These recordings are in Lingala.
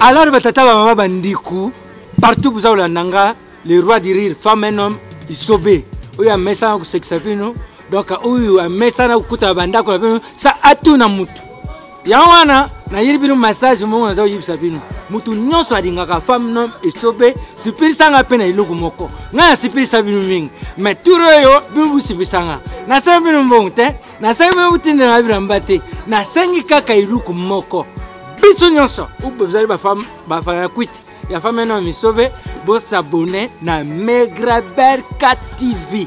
alors batata bamama bandiku partout boza kolanda nga le roi du rire femme un homme isobe oyo amesana kosekisa bino donc oyo amesana kokutana bandako na bino sa atuna motu yango wana nayeli bino massage moko naza koyebisa bino moto nyonso alingaka femme nom esobe sipelisa nga mpe na eloko moko ngai nasipelisa bino mingi mai tour oyo bino bosipelisa nga nasengi bino mbongo te nasengi bino botindela na bilamba te nasengi kaka eloko moko biso nyonso bozali bafana ya kwiti ya femme nom esobe bosabone na megraberka tv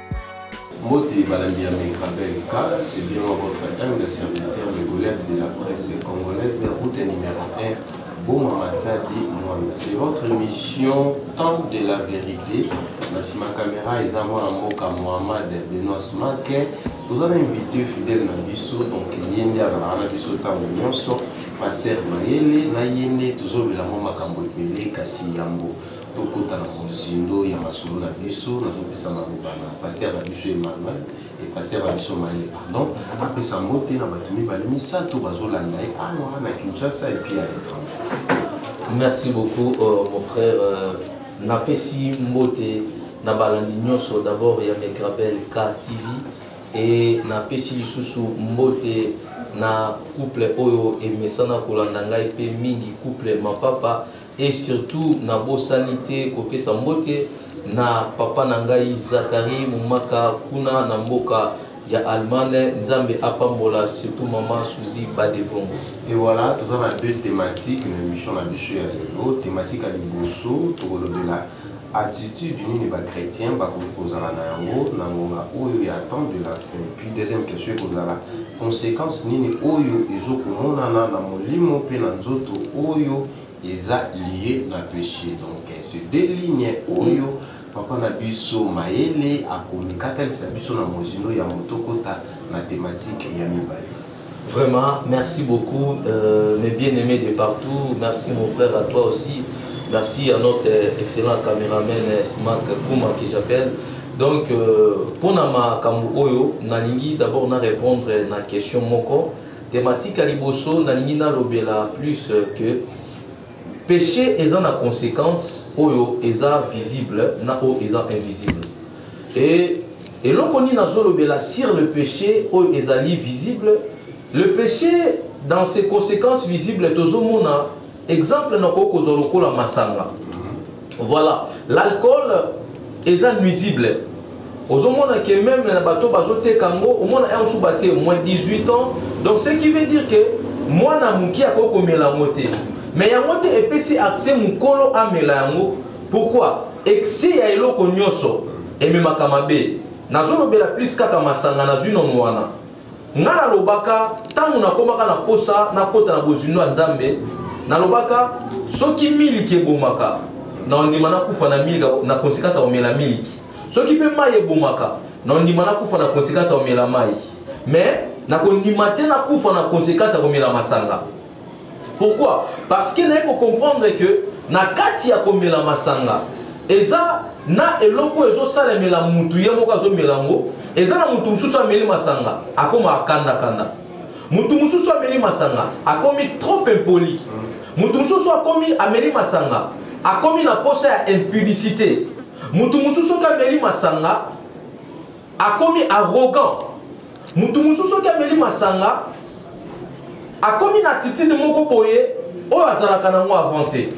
Mbote balandi ya Megrabel K, c'est bien moi votre âme de serviteur de Goliath de la presse congolaise, route numéro 1, Boma Matadi Mwanda. C'est votre émission Temps de la vérité. Nasima Kamera, eza mwana mboka Mohamed Benoît Smake. Toza na invité fidèle na biso, donc ye nde azalaka na biso ntango nyonso, Pasteur Mayele, na ye nde tozolobela mwa makambo ebele kasi yambo Tokota na mozindo ya masolo na biso, nazopesa maloba na pasteur na biso Emmanuel et pasteur na biso Maye, pardon, apesa mbote na bato mibale misato bazolanda ye awa na Kinshasa et puis à l'étranger. Merci beaucoup euh, mon frère euh, napesi mbote na balandi nyonso d'abord ya Megrabel K TV et napesi lisusu mbote na couple oyo emesana kolanda ngai mpe mingi couple mapapa Et surtout na bosani te kopesa mbote na papa na ngai Zachary Mumaka kuna na mboka ya Allemagne Nzambe apambola surtout maman Suzy Badevongo. Et voilà, toza na deux thématiques na émission na biso ya lelo. Thématique ya liboso tokolobela attitude nini ba chrétiens bakoki kozala na yango na ngonga oyo ya temps de la fin. Puis deuxième question ekozala conséquence nini oyo ezokomonana na molimo mpe na nzoto oyo eza lie na peche donc ce deux ligne oyo papa na biso mayele akomi katalisa biso na mozindo ya moto kota na thématique ya mibale Vraiment, merci beaucoup, euh, mes bien-aimés de partout. Merci mon frère, à toi aussi. Merci à notre euh, excellent caméraman euh, Smack Kuma que j'appelle. Donc, euh, pour Nama Kambu Oyo, Nalingi d'abord na répondre na question Moko. Tematique ya liboso nalingi nalobela plus que peche eza na consequence oyo eza visible na oyo eza invisible et eloko nini nazolobela sur le peche oyo ezali visible le peche dans ses conséquences visibles tozomona exemple nakoki kozwa lokola masanga Voilà, l'alcool est nuisible. ozomona ke meme na bato bazoteka yango omona yango mosusu batie moins 18 ans donc ce qui veut dire ke mwana moke akoki komela yango te mais yango te epesi accès mokolo amela yango pourquoi excès ya eloko nyonso ememaka mabe nazolobela plus kaka masanga nazwi nono wana Nga na lobaka tango na komaka na posa na kota na bozindo ya Nzambe na lobaka soki miliki ebomaka na ondima na kufa na miliki na konsekansa ya omela miliki soki pe mayi ebomaka na ondima na kufa na konsekansa ya omela mayi mais na kondima te na kufa na konsekansa ya komela masanga Pourquoi? Parce que naye ko comprendre que na kati ya komela masanga eza na eloko ezo salemela mutu ye moko azo mela ngo eza na mutu mususu ameli masanga akoma akanda kanda mutu mususu ameli masanga akomi trop impoli mutu mususu akomi ameli masanga akomi na posa ya impudicité mutu mususu kameli masanga akomi arrogant mutu mosusu soki ameli masanga akomi na attitude moko boye oyo azalaka nango avant te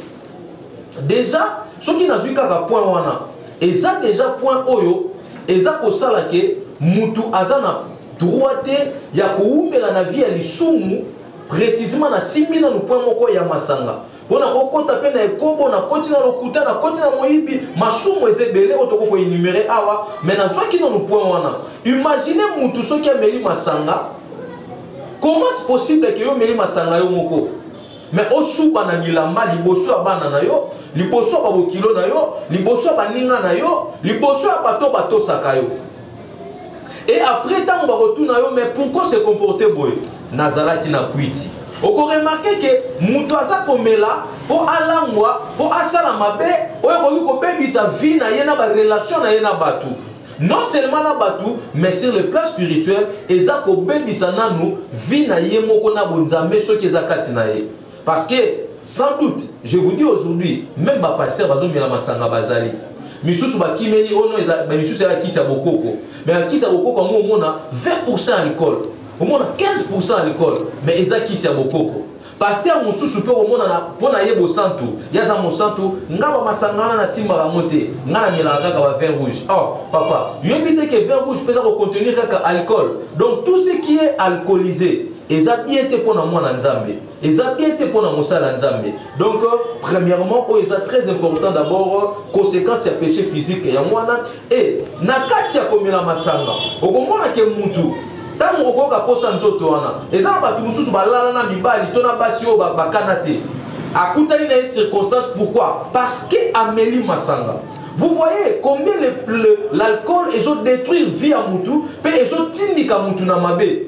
deja soki nazwi kaka point wana eza deja point oyo eza kosala ke mutu aza na droit te ya kowumela na vie ya lisumu précisément na simbi nanu point moko ya masanga mpo na kokota mpe na ekobo nakoti na lokuta nakoti na moyibi masumu eza ebele oyo tokoki koenumere awa me nazwaki nano point wana imagine mutu soki ameli masanga comment se possible ke yo omeli masanga yo moko me osuba na bilamba liboso ya bana na yo liboso ya babokilo na yo liboso ya baninga na yo liboso ya bato batosaka yo et après ntango bakotuna yo mais pourquoi se comporter boye nazalaki na kwiti okoremarke ke moto aza komela mpo alangwa mpo asala mabe oyo ekoki kobebisa vie na ye na barelation na ye na bato non seulement na bato mais sur le plan spirituel eza kobebisa nanu vie na ye moko na bonzambe soki eza kati na ye Parce que sans doute, je vous dis aujourd'hui, même ba pasteurs bazomela masanga bazali. misusu bakimeli oyo oh misusu ya kisa bokoko mais ya kisa bokoko yango omona 20 ya likole omona 15 ya likole mais eza kisi ya bokoko paster mosusu mpe omonana mpo na ye bosantu ye aza mosantu nga bamasanga wana nasimbaka yango te nga namelaka kaka ba vin rouge or oh, papa yoyebi te ke vin rouge mpe eza kocontenir kaka alcool donc tout ce qui est alcoolisé eza bien te pona mwana nzambe eza bien te pona mosala nzambe donc euh, premièrement oyo eza très important d'abord euh, conséquence ya péché physique yango wana e na kati ya komela masanga okomona ke mutu ntango okoyoka mposa nzoto wana eza na bato mosusu balala na mibali to na basi oyo bakana te akutani na ye circonstance pourquoi parce que ameli masanga Vous voyez combien l'alcool le, le, ezo détruire vie à mutu pe ezo tindika mutu na mabe.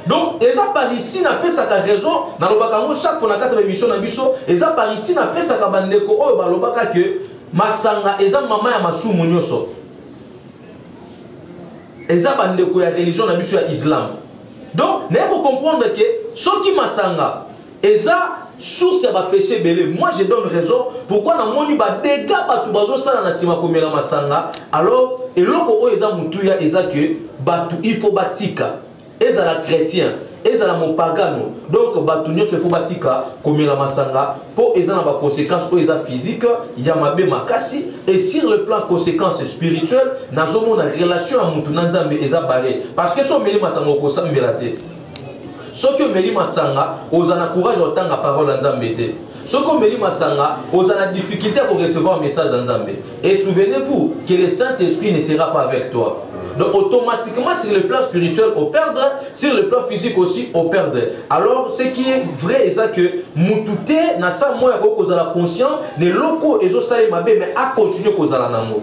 donc eza par ici napesaka raison nalobaka yango chaque fois na kati ya émission na biso eza par ici napesaka bandeko oyo balobaka ke masanga eza mama ya masumu nyonso eza bandeko ya religion na biso ya islam donc naye kocomprendre ke soki masanga eza source ya ba péché ebele moi je donne raison pourquoi namoni ba dégâts bato bazosala na nsima komela masanga alors eloko oyo eza motuya eza ke bato il faut batika ezala chrétien ezala mopagano donc bato nyonso efo batika komela masanga mpo eza na baconséquence oyo eza physique ya mabe makasi et sur le plan conséquence spirituelle nazomona relation ya motu na nzambe eza bare parce que so omeli masanga okosambela te soki omeli masanga oza na courage ya kotanga parole ya nzambe te soki omeli masanga oza na difficulté ya korecevoir message ya nzambe et souvenez-vous que le saint esprit ne sera pas avec toi Donc automatiquement, sur le plan spirituel, on perdre, sur le plan physique aussi, on perdre. Alors, ce qui est vrai, c'est que mutute na sa moya ko kozala conscient de loko ezo sale mabe mais a continuer kozala nango.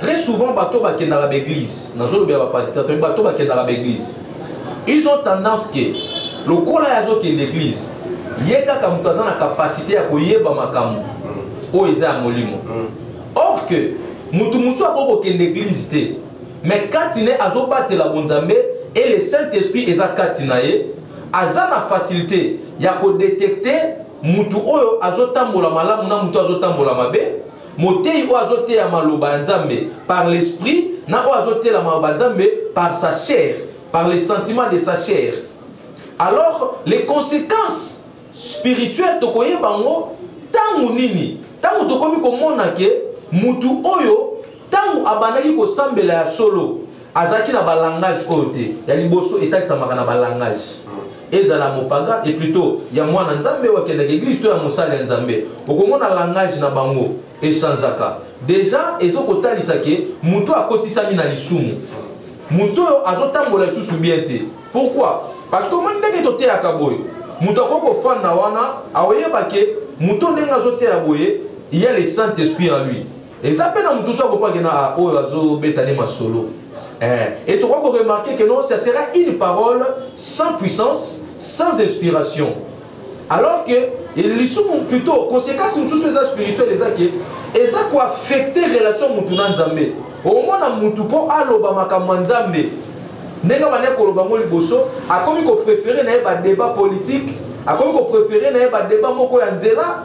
Très souvent, bateau va kenda ba église. Nazo lobe ba pasteur, to bateau va kenda ba église. Ils ont tendance que lokola yazo kenda église, ye kaka mutu aza na capacité ya koyeba makambo oyo eza ya molimo. Mm. Or que mutu musu akoki kokenda église te, mais kati ne azobatela bonzambe et le Saint-Esprit eza kati na ye, aza na facilité ya kodetecte mutu oyo azotambola malamu na mutu azotambola mabe Moteyi oyo azoteya maloba ya Nzambe par l'esprit na oyo azotela maloba ya Nzambe par sa chair, par les sentiments de sa chair. Alors les conséquences spirituelles tokoyeba yango ntango nini? Ntango tokomi komona ke mutu oyo ntango abandaki kosambela ya solo azalaki na balangage oyo te ya liboso etalisamaka na balangage ezala mopaga e plutot ya mwana nzambe oyo akendaka eglise to ya mosali ya nzambe okomona langage na bango echangeaka deja ezokotalisa ke moto oyo akotisami na lisumu moto oyo azotambola lisusu bien te pourkui parce que omoni ndenge toteyaka boye moto akoki kofanda wana aoyeba ke moto ndenge azoteya boye ya le saint esprit en lui Eza pe na mutu so akopa ke na ah, oyo azo beta ne masolo. Eh, et tu crois qu'on remarquer que non, ça sera une parole sans puissance, sans inspiration. Alors que ils sont plutôt conséquences sur les spirituels les acquis et ça quoi affecter relation mutu na Nzambe. Au moins na mutu po aloba makambo Nzambe. Ndenge bana koloba ngo liboso, akomi ko préférer na ba débat politique, akomi ko préférer na ba débat moko ya nzela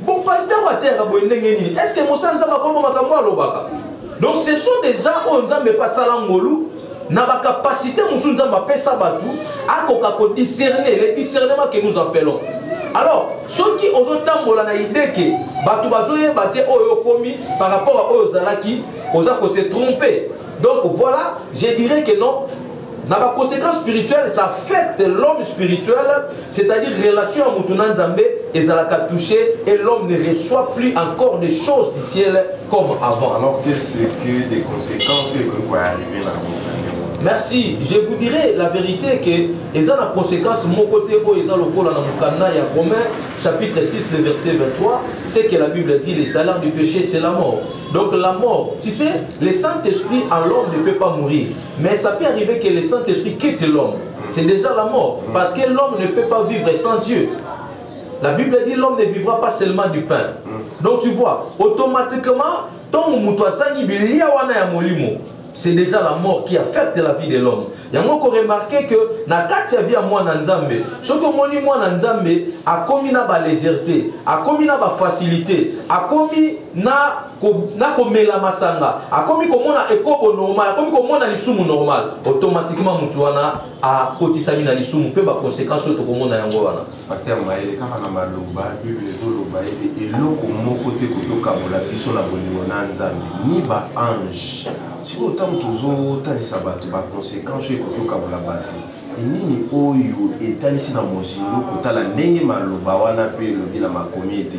Bon, pasteur Matera, boye ndenge nini? Est-ce que Moussa Nzamba kombo makambo alobaka? Donc ce sont des gens oyo Nzambe pa sala ngolu na ba capacité musu Nzambe apesa batu akoka ko discerner le discernement que nous appelons. Alors, ceux qui ozo tambola na idée que batu bazo yeba te oyo komi par rapport à oyo zalaki, oza ko se tromper. Donc voilà, je dirais que non, na ba conséquences spirituelles ça affecte l'homme spirituel c'est-à-dire relation ya mutu na nzambe ezalaka touché et l'homme ne reçoit plus encore des choses du ciel comme avant alors que c'est que des conséquences que quoi arriver là merci je vous dirai la vérité que eza na conséquence moko te oyo eza lokola na mokanda ya romain chapitre 6 le verset 23 c'est que la bible dit les salaires du péché c'est la mort donc la mort tu sais le saint esprit en l'homme ne peut pas mourir Mais ça peut arriver que le Saint-Esprit quitte l'homme. C'est déjà la mort. Parce que l'homme ne peut pas vivre sans Dieu. La Bible dit l'homme ne vivra pas seulement du pain. Mm. Donc tu vois, automatiquement, tant moto azangi bilia wana ya molimo, c'est déjà la mort qui affecte la vie de l'homme. Yango ko remarquer que na kati ya vie ya mwana Nzambe, soki omoni mwana Nzambe akomi na ba légèreté, akomi na ba facilité, akomi na na komela masanga akomi komona ekobo normal akomi komona lisumu normal automatiquement motu wana akotisami na lisumu mpe baconséquence oyo tokomona yango wana paster mayele kaka na maloba bible ezoloba ete eloko moko te kotokabola biso na bolingo na nzambe ni baange sikoyo ntango tozotalisa bato baconséquence oyo ekotokabola bato enini oyo etalisi na mozindo kotala ndenge maloba wana mpe elobi na makomi ete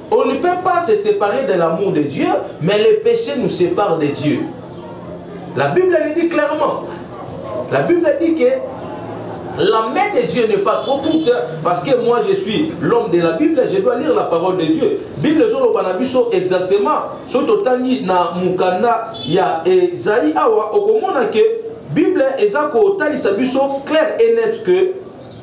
On ne peut pas se séparer de l'amour de Dieu, mais le péché nous sépare de Dieu. La Bible le dit clairement. La Bible dit que la main de Dieu n'est pas trop courte parce que moi je suis l'homme de la Bible, je dois lire la parole de Dieu. Bible zolo banabiso exactement soto tangi na mukanda ya Esaïe awa okomona que Bible eza ko talisa biso clair et net que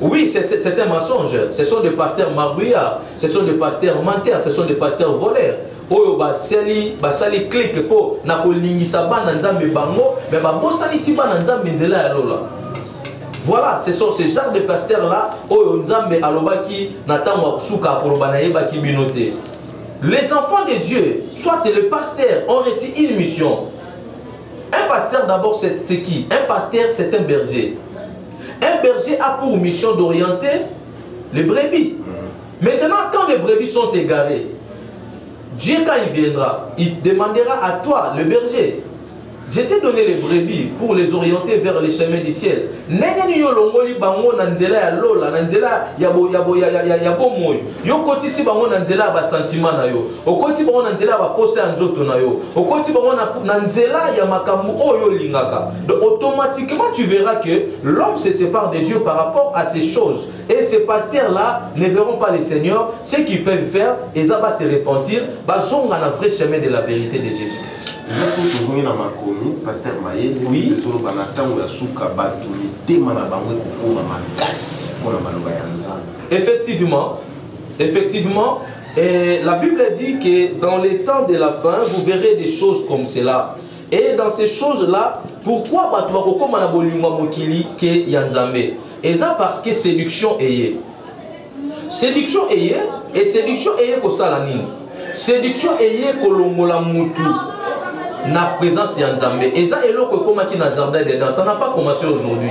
Oui, c'est un mensonge. Ce sont des pasteurs marbouillards, ce sont des pasteurs menteurs, ce sont des pasteurs voleurs. oyo basali basali clike mpo na kolingisa bana nzambe bango me babosanisi bana nzambe nzela ya lola voilà ce sont ce genre de pasteur là oyo nzambe alobaki na ntango ya kosuka akoloba nayebaki bino te les enfants de dieu soit le pasteur ont reçu une mission un pasteur d'abord c'est qui un pasteur c'est un berger Un berger a pour mission d'orienter les brebis. Mm. Maintenant, quand les brebis sont égarées, Dieu, quand il viendra, il demandera à toi, le berger, je t'ai donné les brebis pour les orienter vers les chemins du ciel. ndenge nini yo olongoli bango na nzela ya lola na nzela ya bomoi yo okotisi bango na nzela ya basentiment na yo Okoti bango na nzela ya baposa ya nzoto na yo. Okoti bango na, na nzela ya makambo oyo olingaka. Donc automatiquement tu verras que l'homme se sépare de Dieu par rapport à ces choses. Et ces pasteurs là ne verront pas le Seigneur. Ce qu'ils peuvent faire, ils vont se repentir, bazonga na vrai chemin de la vérité de Jésus-Christ. tozongi na makomi paster maye oui. ezoloba na ntango ya suka bato mitema na bango ekokoma makasi mpo na maloba ya nzambe effectivement effectivement Et la Bible dit que dans les temps de la fin, vous verrez des choses comme cela. Et dans ces choses-là, pourquoi bato bakokoma na bolingo mokili ke ya Nzambe Eza parce que séduction eye. Séduction eye et séduction eye kosala nini Séduction eye kolongola mutu na présence ya Nzambe. Eza eloko ekomaki na jardin d'Eden, ça n'a pas commencé aujourd'hui.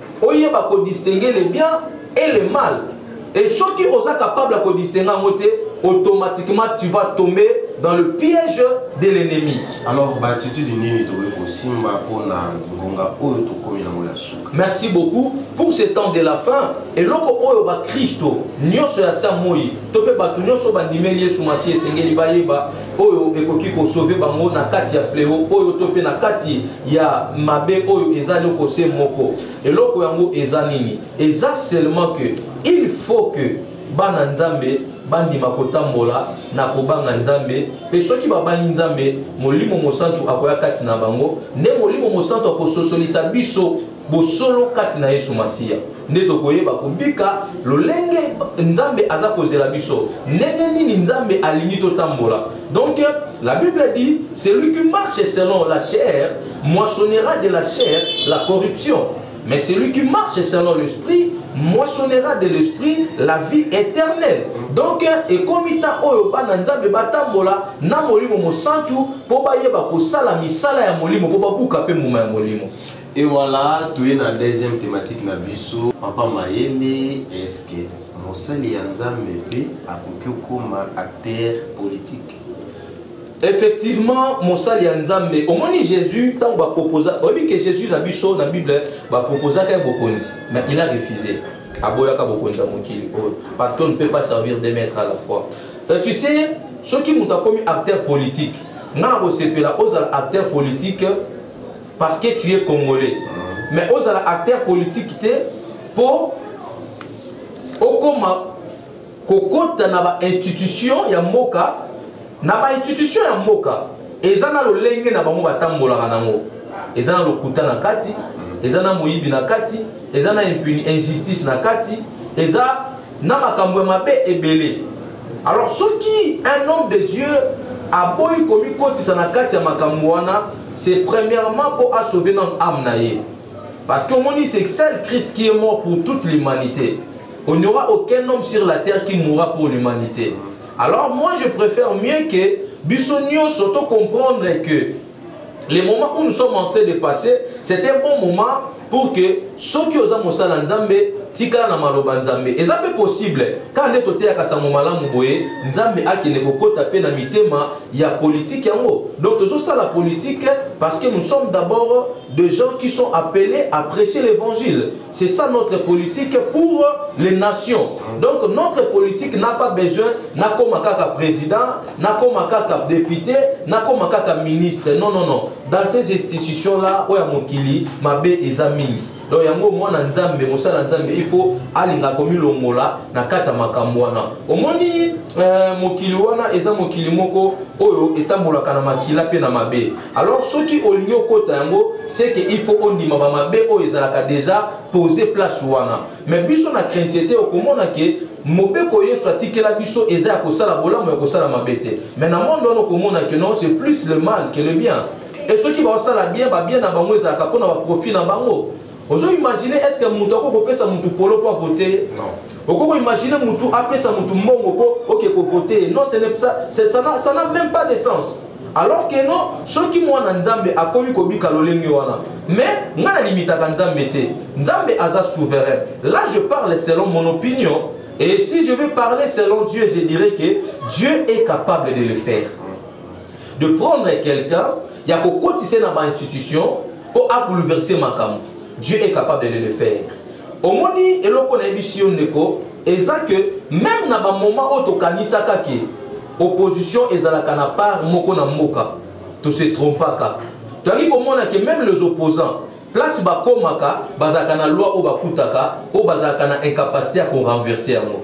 oyeba ko distinguer le bien et le mal et soki oza capable ya ko distinguer yango te automatiquement tu vas tomber dans le piège de l'ennemi alors baatitude nini tokoki kosimba mpona ngonga oyo tokomi yango ya suka merci beaucoup pour ce temps de la fin eloko oyo bakristo nyonso ya sa moi to mpe bato nyonso bandimeli yesu masiya esengeli bayeba oyo ekoki kosove bango na kati ya fleo oyo to mpe na kati ya mabe oyo eza eloko se moko eloko yango eza nini eza seulement que il faut que bana nzambe bandima kotambola na kobanga nzambe mpe soki babangi nzambe molimo mosantu akoya kati na bango nde molimo mosantu akososolisa biso bosolo kati na yesu masiya nde tokoyeba kobika lolenge nzambe aza kozela biso ndenge nini nzambe alingi totambola donc la bible dit celui qui marche selon la chair moissonnera de la chair la corruption mais celui qui marche selon l'esprit moissonnera de l'esprit la vie éternelle donc ekomi ntan oyo bana nzambe batambola na molimo mosantu mpo bayeba kosala misala ya molimo mpo babuka mpe mbuma ya molimo Et voilà, tu es na deuxième thématique na biso. Papa Mayele, est-ce que mosali ya Nzambe pe akoki okoma acteur politique? effectivement mosali ya nzambe omoni jésus ntango baproposa oyebi ke jésus na biso na bible baproposaka ye bokonzi mais il a refusé aboyaka bokonzi ya mokili oyo parce qu'on ne peut pas servir de maître à la fois euh, tu sais soki moto akomi acteur politique ngai nakosepela ozala acteur politique parce que tu es congolais mais ozala acteur politique te mpo okoma kokota na bainstitution ya mboka na bainstitution ya mboka eza na lolenge na bango batambolaka nango eza na lokuta na kati eza na moyibi na kati eza na injustice na kati eza na makambo ya mabe ebele alors soki un homme de dieu aboyi komikotisa na kati ya makambo wana c'est premièrement mpo asauve nano ame na ye parce que omoni c'est seul christ qui est mort pour toute l'humanité on n'aura aucun homme sur la terre qui mourra pour l'humanité alors moi je préfère mieux que biso nyonso tocomprendre que le moment où nous sommes en train de passer c'est un bon moment pour que soki oza mosala nzambe tikala na maloba nzambe eza mpe possible kaka nde toteyaka sango malamu boye nzambe akende kokota mpe na mitema ya politike yango donc tozosala politike parce que nous sommes d'abord de gens qui sont appelés à prêcher l'évangile c'est ça notre politique pour les nations donc notre politique n'a pas besoin nakoma kaka président nakoma kaka depute nakoma kaka ministre non non non dans ces institutions là oyo ya mokili mabe eza mingi donc yango mwana nzambe mosala nzambe il faut alinga komilongola na kata makambo wana omoni eh, mokili wana eza mokili moko oyo etambolaka na makila mpe na mabe alors soki olingi okota yango seke il faut ondima bamabe oyo ezalaka deja pose place wana Mais biso na craintiete okomona ke mobeko Yesu atikela biso eza ya kosala bolamu ya kosala mabe te. Mais na monde wana okomona ke non c'est plus le mal que le bien. Et soki baosala bien ba bien na bango ezalaka mpo na ba profit na bango. Ozo imaginer est-ce que mutu ako kopesa mutu polo mpo avote? Non. Okoko imaginer mutu apesa mutu mbongo mpo oke ko voter. Non, ce n'est ça, ça n'a même pas de sens. Alors que non, soki mwana Nzambe akomi kobika lolenge wana. Mais nga na limitaka Nzambe te. Nzambe aza souverain. Là je parle selon mon opinion et si je veux parler selon Dieu, je dirais que Dieu est capable de le faire. De prendre quelqu'un ya kokotisa na ba institution pour a bouleverser makambo. Dieu est capable de le faire. Omoni eloko na yebisi yo ndeko eza que même na ba moment oyo tokanisaka ke opposition ezalaka na part moko na mboka to se trompaka toyaki komona ke même les opposants place bakomaka bazalaka na loi oyo bakutaka oyo bazalaka na incapacité ya korenverse yango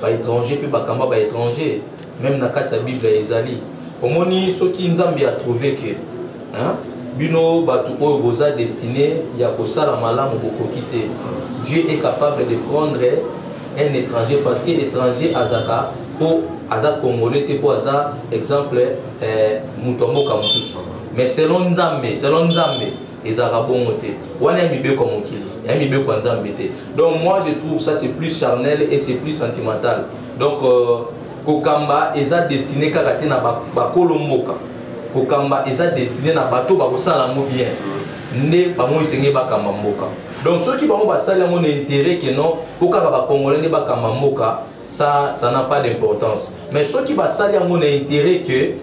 ba étranger mpe bakamba ba étranger meme na kati ya bible ezali omoni soki nzambe a trouve que hein? bino bato oyo boza destine ya kosala malamu bokoki te dieu est capable de prendre un étranger parce que étranger azaka mpo aza congolais te mpo aza exemple eh, moto ya mboka mosusu mais selon nzambe selon nzambe ezalaka bongo te wana ya mibeko ya mokili ya mibeko ya nzambe te donc moi je trouve ça c'est plus charnel et c'est plus sentimental donc euh, kokamba eza destiné kaka te na bakolo ba mboka kokamba eza destiné na bato bakosala yango bien nde bango esengeli bakamba mboka donc soki bango basali yango na intérêt ke non po kaka bacongolais nde bakamba mboka ça ça n'a pas d'importance mais soki basali yango na intérêt que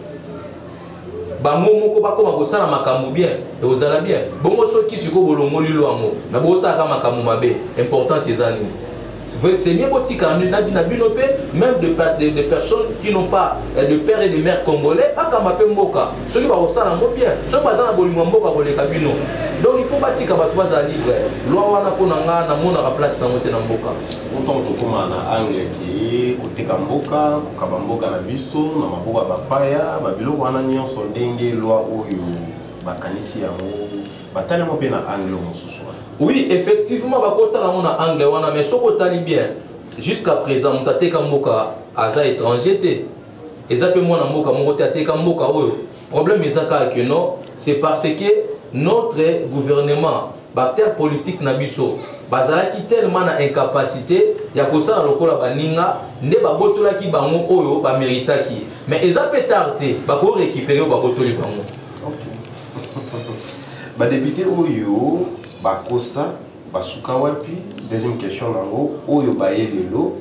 bango moko bakoma kosala makambo bien ekozala bien bongo soki sikoyo bolongoli lo yango me bosalaka makambo mabe importance eza nini c'est mieux botika na bino mpe même de, de, de personnes qui n'ont pas euh, de père et de mère congolais bakamba mpe mboka soki bakosala yango bien soki baza na bolingo ya mboka koleka bino donc il faut batika bato bazala libre loi wana mpo na ngai namonaka place nango te na mboka otokoma na angle ki koteka mboka kobuka bamboka na biso na maboko ya bapaya babiloko wana nyonso ndenge lwa oyo bakanisi yango batali yango mpe na angle mosusu oui effectivement bakotala yango na angle wana mais soki otali bien jusqu'à présent moto ateka mboka aza étranger te eza mpe mwana mboka moko te ateka mboka oyo Problème eza kaka que non, c'est parce que notre gouvernement, bacteur politique na biso, bazalaki tellement na incapacité ya kosala lokola baninga nde babotolaki bango oyo bameritaki mais eza mpe tard te bako récupere oyo babotoli bango badepute oyo bakosa basuka wapi deuxième question nango oyo baye lelo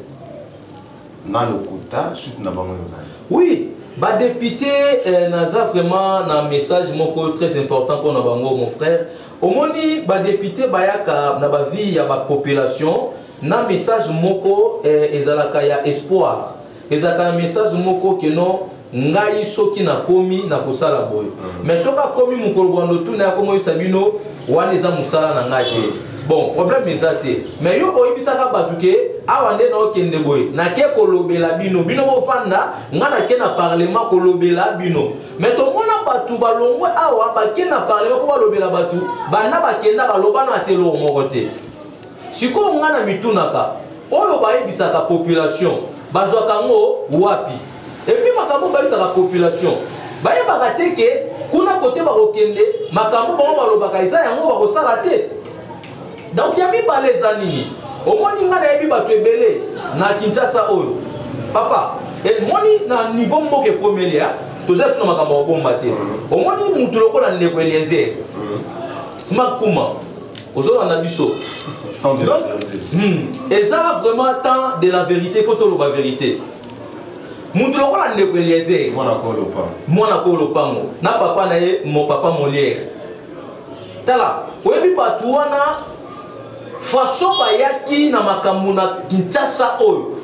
nga lokuta suite na bango ezali oui badepute eh, naza vraiment na message moko très important mpo na bango mon frère omoni badepute bayaka na bavie ya bapopulation na message moko eh, ezalaka ya espoir ezalaka na message moko keno ngai soki nakomi nakosala boye mm. mais soki akomi mokolo bwando tuna akomoyisa bino wana eza mosala na ngai te mm. bon problème eza te mais yo oyebisaka bato ke awa nde naokende boye nake kolobela bino bino bofanda ngai nake na parlement kolobela bino mais tomona bato balongwe awa bake na parlement mpo balobela bato banda bakenda baloba na ateloko moko te sikoyo ngai na mitunaka oyo bayebisaka population bazwaka yango wapi epuis makambo bayebisaka population bayebaka te ke kuna kote bakokende makambo bango balobaka eza yango bakosala te donk ya mibale eza nini omoni ngai nayebi bato ebele na kinshasa oyo papa emoni na niveau mboka ekomeli toza sino makambo ya kobomba te omoni motu lokola ndeko elienzer smak kuma ozolanda biso donc hmm, eza vraiment temps de la vérité fo toloba vérité moto lokola ndeko eliezer mwana ko lopango na papa na ye mo papa molière tala oyebi bato wana façon bayaki na makambo na kinshasa oyo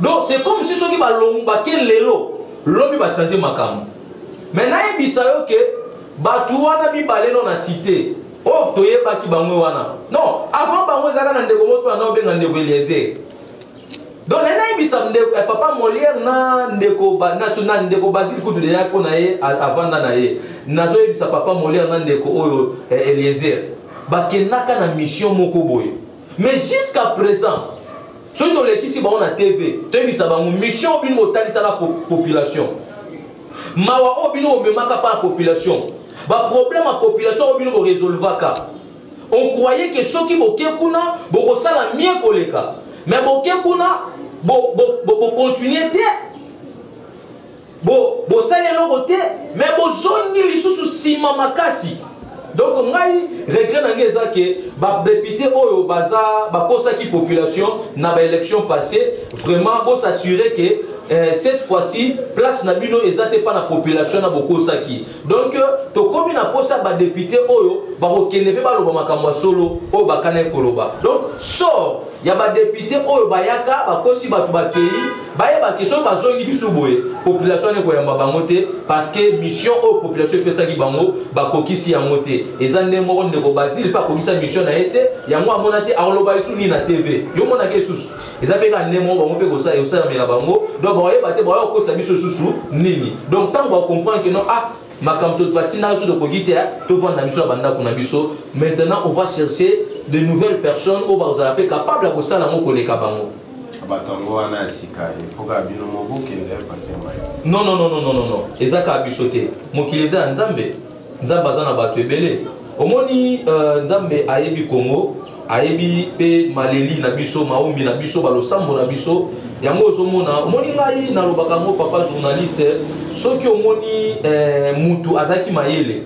donc c'est comme si soki balongo bake lelo lobi bachange makambo mais nayebisa yo ke bato wana mibale no na site oyo oh, toyebaki bango wana non avant bango ezalaka na ndeko moko wana obenga ndeko eliezer donc nani ayebisa ndeko eh, papa molière na ndeko na ndeko basile kutu deya mpo na ye avanda na ye nazoyebisa papa molière na ndeko oyo eh, eliezer bakendaka na mission moko boye mais jusqu'à présent soki tolekisi bango na tv toyebisa bango mission bino botalisaka population mawa oyo bino bomemaka mpa na population baproblème ya population oyo bino boresolvaka on croyait ke soki boke kuna bokosala mie koleka me boke kuna bokontinue bo, bo, bo te Bo bosali eloko te mais bozongi lisusu sima makasi. Donc ngai regret na ngai eza que ba député oyo baza bakosaki population na ba élection passée vraiment bo s'assurer que euh, cette fois-ci place na bino eza te pa na population na bokosaki Donc tokomi na posa ba député oyo bakokende mpe baloba makambo ya solo oyo bakanaki koloba. Donc sort ya ba député oyo bayaka bakosi bato bakei bayeba ke soki bazongi bisu boye population wana ekoyamba bango te parce que mission oyo population epesaki bango bakokisi yango te eza nde moko ndeko basile mpe akokisa mission na ye te yango amona te akoloba lisusu nini na tv yo omonaka esusu eza mpe kaka ndenge moko bango mpe kosala ekosalamela bango donc bakoyeba te bakoya kokosa biso lisusu nini donc ntango bacomprendre ke non ah makambo batindaka biso tokoki te tovanda biso na bandako na biso maintenant on va chercher de nouvelles personnes oyo bakozala mpe capable ya kosala yango koleka bango bato yango wana ya sika epoka bino moko kende pasema non non non non non eza kaka biso te mokili eza ya nzambe nzambe aza na bato ebele omoni uh, nzambe ayebi kongo ayebi mpe maleli na biso maombi na biso balosambo na biso yango ozomona omoni ngai nalobaka yango papa journaliste soki omoni eh, mutu azalaki mayele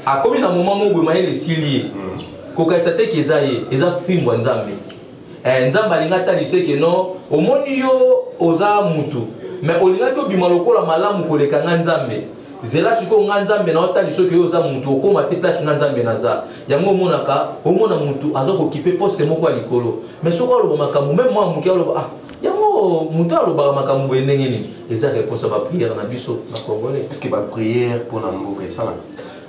akomi na moma moko boye mayele esili ye hmm. kokanisa te ke eza ye eza fimbo ya nzambe eh, nzambe alinga ata liseke no omoni yo oza mutu me olingaki obima lokola malamu koleka nga nzambe zela sikoyo nga nzambe na otali soki yo oza mutu okóma te place nga nzambe naza yango omonaka omona mutu aza kokipe poste moko ya likolo me soki aloba makambo meme mwa moke aloba ah yango moto alobaka makambo boye ndenge nini eza réponse ya baprière na biso na congolais parceke baprière mpo na mboka esalaka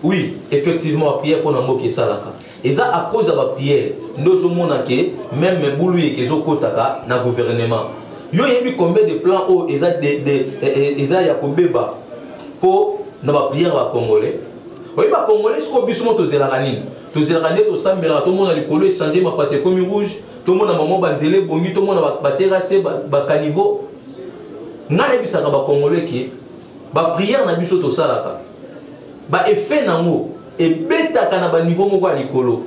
oui effectivement baprière mpo na mboka esalaka eza à cause ya ba prière nde ozomona ke meme mebulu yeke ezokotaka na gouvernement yo oyebi combien de plan oyo eza, de, de, e, e, eza ya kobeba mpo na ba prière ba congolais oyebi ba congolais sikoyo biso mo tozelaka nini tozelaka nde tosambelaka tomona likolo echange mapata ekomi rouge tomona mama banzela ebongi tomona baterase bacaniveau ngai nayebisaka bacongolais ke baprière na biso tosalaka baeffet na yango ebetaka na ba niveau moko ya likolo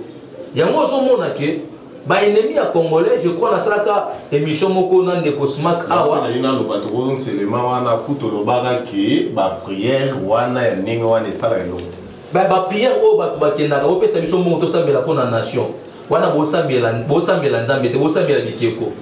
yango ozomona ke ba ennemi ya congolais je crois nasalaka émission moko na ndeko smak awa na yina loba tokozong selema wana kuto lobaka ke ba prière wana ya ndenge wana esala eloko ba ba prière oyo bato bakendaka opesa biso mbongo tosambela mpo na nation wana bosambela bosambela nzambe te bosambela bikeko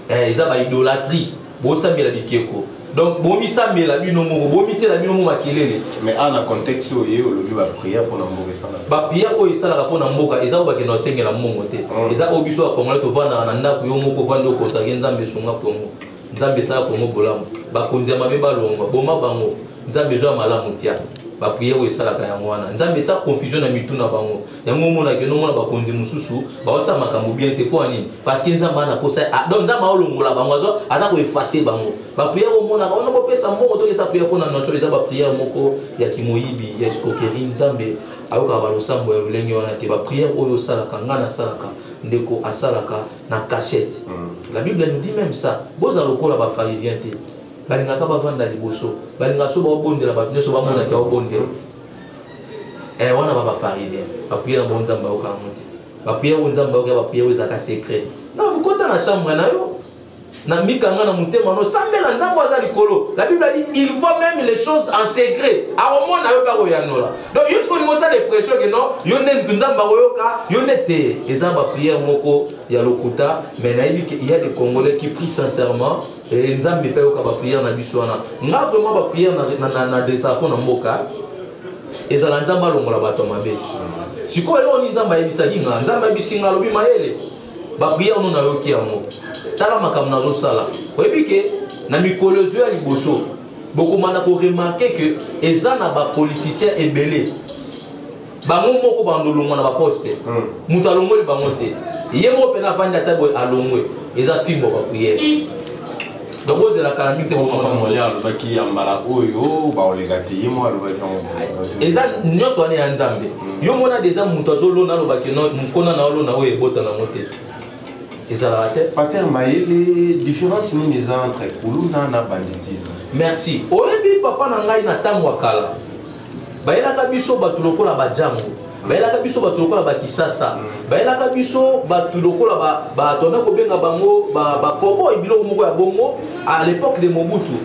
eh, eza ba idolatrie bosambela bikeko donc bomisambela bino moko bomityela bino moko makelele mais awa na contexte oyo ye olobi baprière mpo na mboka esalaka baprière oyo esalaka mpo na mboka eza oyo bakenda osengela mbongo te mm. eza oyo biso bakongole tovandaka na ndako yo moko ovandi okosaki nzambe esunga kongo nzambe esala kongo bolamu bakonzi ya mabe balongwa boma bango nzambe ezwa malamu tia baprière oyo esalaka yango wana nzambe etya confusion na mitu na bango yango omonaki yo nomona bakonzi mosusu baosala makambo bien te mpo ya nini parceke nzambe ana posa ah, donc nzambe aolongola bango azo aza koefase bango bapriere omonaka wana bopesa mbongo tokesa priere mpo na nation eza bapriere moko ya kimoyibi ya escokeri nzambe ayokaka balosambo ya lolenge wana te bapriere oyo osalaka ngai nasalaka ndeko asalaka na cachette mm. la bible nous dit même ça boza lokola bafarisien te balingaka bavanda liboso balingaka so baobondela bato nyonso bamonaki aobondela eh wana ba ba pharisien ba prière bon nzambe ba oka monte ba prière bon nzambe ba oka ba prière za ka secret na bukota na chambre na yo na mikanga na motema no sambela nzambe aza likolo la bible dit il voit même les choses en secret akomona yo mpe akoyanola donc yo soki olingi osala depression ke non yo nde mutu nzambe akoyoka yo nde te eza baprière moko ya lokuta mais nayebi ke il y a des congolais qui prie sincèrement Eh, nzambe mpe ayoka bapriere na biso wana nga vraiment bapriere nadressaka mpo na mboka ezala nzambe alongola bato ya mabe sikoyo eloko nini nzambe ayebisaki nga nzambe ayebisi nga alobi mayele bapriere no nayoki yango tala makambo nazosala oyebi ke na mikolo ezo ya liboso bokomanda koremarke ke eza na bapoliticien ebele bango moko bandolongwa na baposte hmm. moto alongoli bango te ye moko mpena avandi ata boye alongwe eza fimbo bapriere donc ozela kala mingi te bomamamoli alobaki ya mbala oyo baoleka te ye moko alobaki eza nyonso wana ya nzambe hmm. yo mona deja moto azolona alobaki mokona na olona oyo ebota nango te ezalaka te paster mayele différence nini eza entre kuluna na banditisme merci oyebi papa na ngai na ntango ya kala bayelaka biso bato lokola bajango bayelaka biso bato lokola bakisasa bayelaka biso bato lokola bato ame kobenga bango bakoboi biloko moko ya bongo à l'époque de mobutu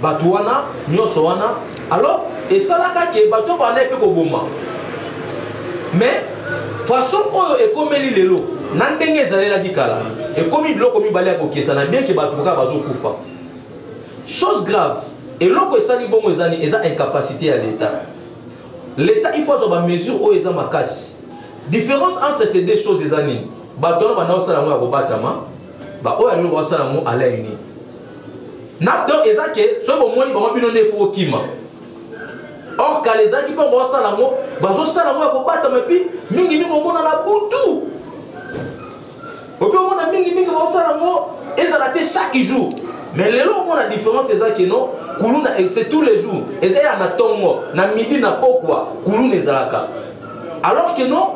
bato wana nyonso wana alors esalaka ke bato bandaki mpe koboma mais façon oyo ekomeli lelo na ndenge ezalelaki kala ekomi biloko mibale ya kokesana bien ke bato kaka bazokufa Chose grave, eloko esali bongo eza nini? Eza incapacite ya l'Etat. L'Etat il faut azwa ba mesures oyo eza makasi. Difference entre ces deux choses eza nini? Bato wana banda kosala yango ya kobatama, ba oyo alelo basala yango à l'œil nu. Na donc eza ke soki bomoni bango bino nde faut kima. Or kala ezalaki mpo basala yango, bazosala yango ya kobatama epi mingi mingi omona na butu ope omona mingimingi baosala yango ezala te chaque jour mais lelo omona différence eza keno kuluna c'est tous les jours eza ya na ntongo na midi na pokwa kuluna ezalaka alors que non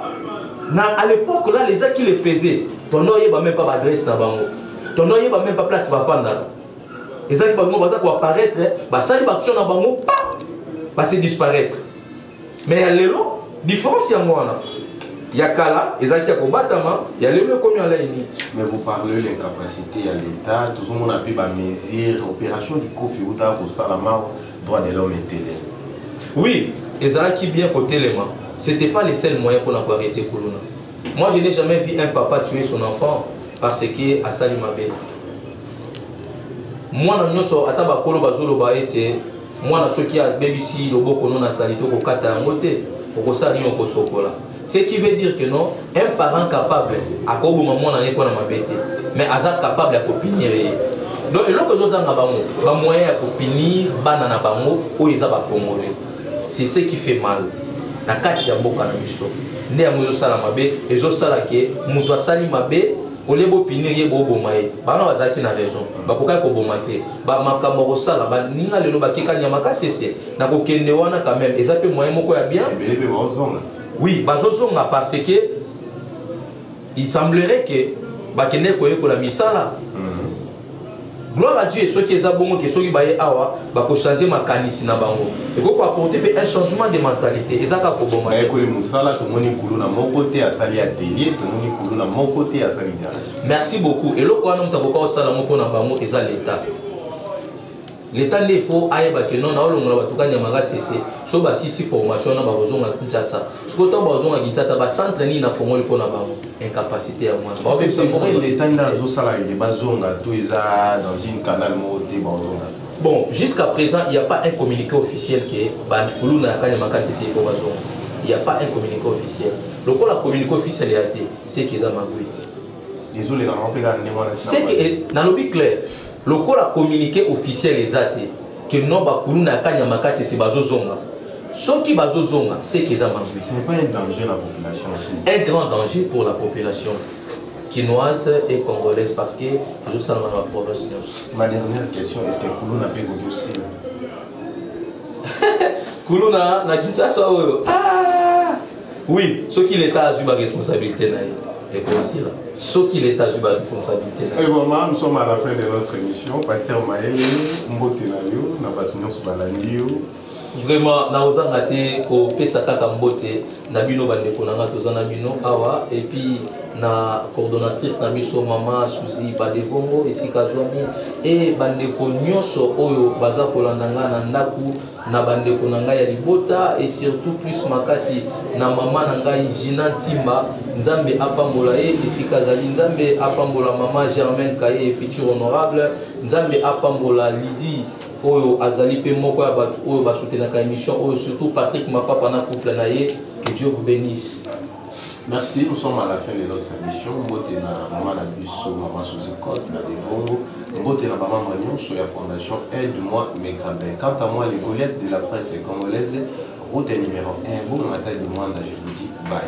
na à l'époque là les gens qui le faisaient tondo oyeba même pas baadresse na bango tondo oyeba même pas place bafandaka ezalaki bango baza koapparaître basali baaction na bango pa basi disparaître mais ya lelo différence yango wana ya kala ezalaki ya kobatama ya lelo ekomi alai nini mais vous parlez l'incapacité ya l'état tozomona mpe bamesure opération likofi eutaka kosalama droit de l'homme etele oui ezalaki bien kotelema c'était pas le seul moyen mpona koarrete kuluna moi je n'ai jamais vu un papa tuer son enfant parce que asali mabe mwana nyonso ata bakolo bazoloba ete mwana soki abebisi loboko no na salite okokata yango te okosala nini okosokola ce qui veut dire que non un parent capable akoboma mwana ne mpo na mabe te mais aza capable ya kopinire ye donc eloko ezozanga bango bamoyen ya kopinire bana na bango oyo eza bacongolais c'est ce qui fait mal na kati ya mboka na biso nde yango ezosala mabe ezosala ke moto asali mabe olie bopinir ye boboma ye bana bazalaki na raison bakokaki koboma te bamakambo akosala baninga lelo bakeka nyama kasese na kokende wana quand même eza mpe moyen moko ya bien oui bazozonga parce que il semblerait que bakendeki koyekola misala mhm. Gloire à Dieu, soki eza bongo ke soki baye awa bako changer makanisi na bango. Eko ko apporter pe un changement de mentalité. Eza ka ko boma. Baye koli musala tomoni kuluna moko te asali atelier, tomoni kuluna moko te asali garage. Merci beaucoup. Eloko wana mutakoka osala moko na bango eza l'etat. leta nde fo ayeba ke non naolongola bato kani ya makasese so basisi formation wana bakozonga kinshasa sikoyo ntango bakozonga kinshasa bacentre nini nafongoli mpo na bango incapacité ya mwana leta nde azosala ye bazonga to eza dans une canal moko te bazonga bon jusqu'à présent il n'y a pas un communiqué officiel ke bakuluna ya kani ya makasese fo bazonga il n'y a pas un communiqué officiel lokola communiqué officiel ya te seki eza magui ezoleka nango mpe kaka ndenge wana seki nalobi claire Lokola communique officiel eza te que non ba kuluna ya kanyama kasese bazozonga soki bazozonga seke eza mabe ce n'est pas un danger la population aussi un grand danger pour la population kinoise et congolaise parce que tozosalama na baprovince nyonso ma dernière question est ce que kuluna mpe ekoki osila kuluna na kinshasa oyo ah! oui soki leta azwi baresponsabilité na ye ekosila soki leta azwi baresponsabilité na ye eboma nous sommes à la fin de notre émission paster mayele mbote na yo na bato nyonso balandi yo vraiment nakozanga te kopesa kaka mbote na bino bandeko na ngai toza na bino awa epuis na coordonnatrice na biso mama suzi badebongo esika azwami e bandeko nyonso oyo baza kolanda ngai na ndako na bandeko na ngai ya libota et surtout plus makasi na mama na ngai Gina Ntimba Nzambe apambola ye esika azali Nzambe apambola mama Germaine Kaye future honorable Nzambe apambola Lydie oyo azali mpe moko ya bato oyo basutenaka émission oyo surtout Patrick Mapapa na couple na ye que Dieu vous bénisse Merci, nous sommes à la fin de notre émission. Mbote na maman na biso, maman Suzy Cote, la Debongo. Mbote na maman Magnon, sur la fondation Aide-moi mes grabins. Quant à moi, les Goliaths de la presse congolaise, route numéro 1, bon matin du monde, je vous dis bye.